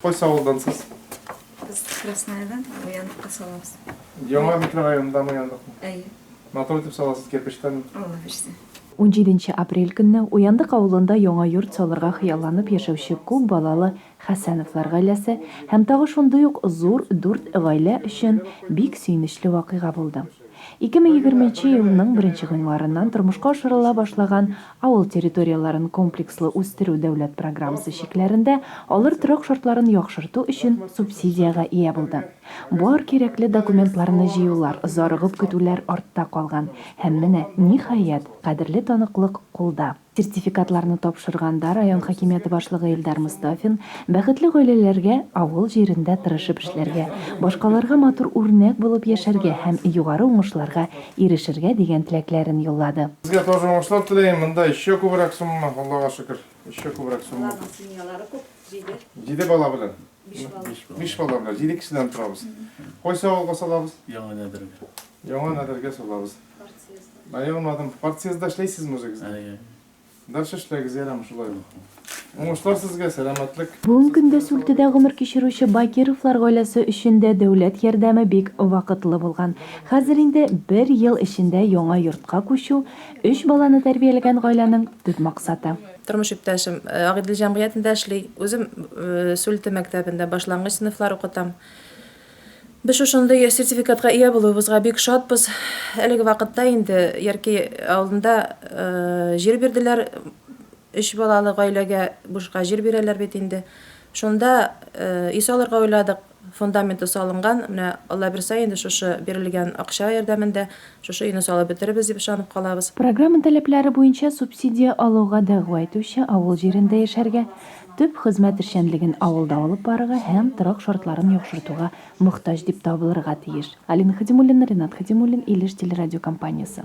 Кайсы авылдан сез? Без Красноярдан Уяндыкка салабыз. Яңа микрорайондамы Уяндыкмы? Әйе. Матур итеп саласыз, кирпечтән. Алла бирсә. Унҗиденче апрель көнне Уяндык авылында яңа йорт салырга хыялланып яшәүче күп балалы Хәсәновлар гаиләсе һәм тагы шундый ук зур дүрт гаилә өчен бик сөенечле вакыйга булды. Ике мең егерменче елның беренче гыйнварыннан тормышка ашырыла башлаган Авыл территорияләрен комплекслы үстерү дәүләт программасы чикләрендә алыр торак шартларын яхшырту өчен субсидиягә ия булды. Бар кирәкле документларны җыюлар, зарыгып көтүләр артта калган һәм менә, ниһаять, кадерле таныклык кулда. Сертификатларны тапшырганда район хакимияте башлыгы Илдар Мостафин бәхетле гаиләләргә авыл җирендә тырышып эшләргә, башкаларга матур үрнәк булып яшәргә һәм югары уңышларга ирешергә дигән теләкләрен юллады. Сезгә тоже уңышлар теләем, монда еще күбрәк сумма, Аллага шөкер, еще күбрәк сумма. Аларның семьялары күп, җиде. Җиде бала белән. Биш бала. Биш бала белән, җиде кешедән торабыз. Кайсы авылга салабыз? Яңа Нәдергә. Яңа Нәдергә салабыз. Партсъездда. Ә ягмадым, партсъездда эшләйсезме үзегез? Әйе. Дальше эшләгез, ярәме, шулай булсын. Уңышлар сезгә, сәламәтлек. Бүген көндә Сүлтедә гомер кичерүче Бакировлар гаиләсе өчен дә дәүләт ярдәме бик вакытлы булган. Хәзер инде бер ел эчендә яңа йортка күчү, өч баланы тәрбияләгән гаиләнең төп максаты. Тормыш иптәшем Агыйдел җәмгыятендә эшли, үзем Сүлте мәктәбендә башлангыч сыйныфлар укытам. Без шушындый сертификатка ия булуыбызга бик шатбыз. Әлеге вакытта инде Яркәй авылында җир бирделәр, өч балалы гаиләгә бушка җир бирәләр бит инде. Шунда өй салырга уйладык, фундаменты салынган, менә Аллабирса инде шушы бирелгән акча ярдәмендә шушы өйне салып бетерербез дип ышанып калабыз. Программа таләпләре буенча субсидия алуга дәгъва итүче авыл җирендә яшәргә, Төп хезмәт эшчәнлеген авылда алып барырга һәм торак шартларын яхшыртуга мохтаҗ дип табылырга тиеш. Алина Хадимуллина, Ренат Хадимуллин, Илеш телерадиокомпаниясе.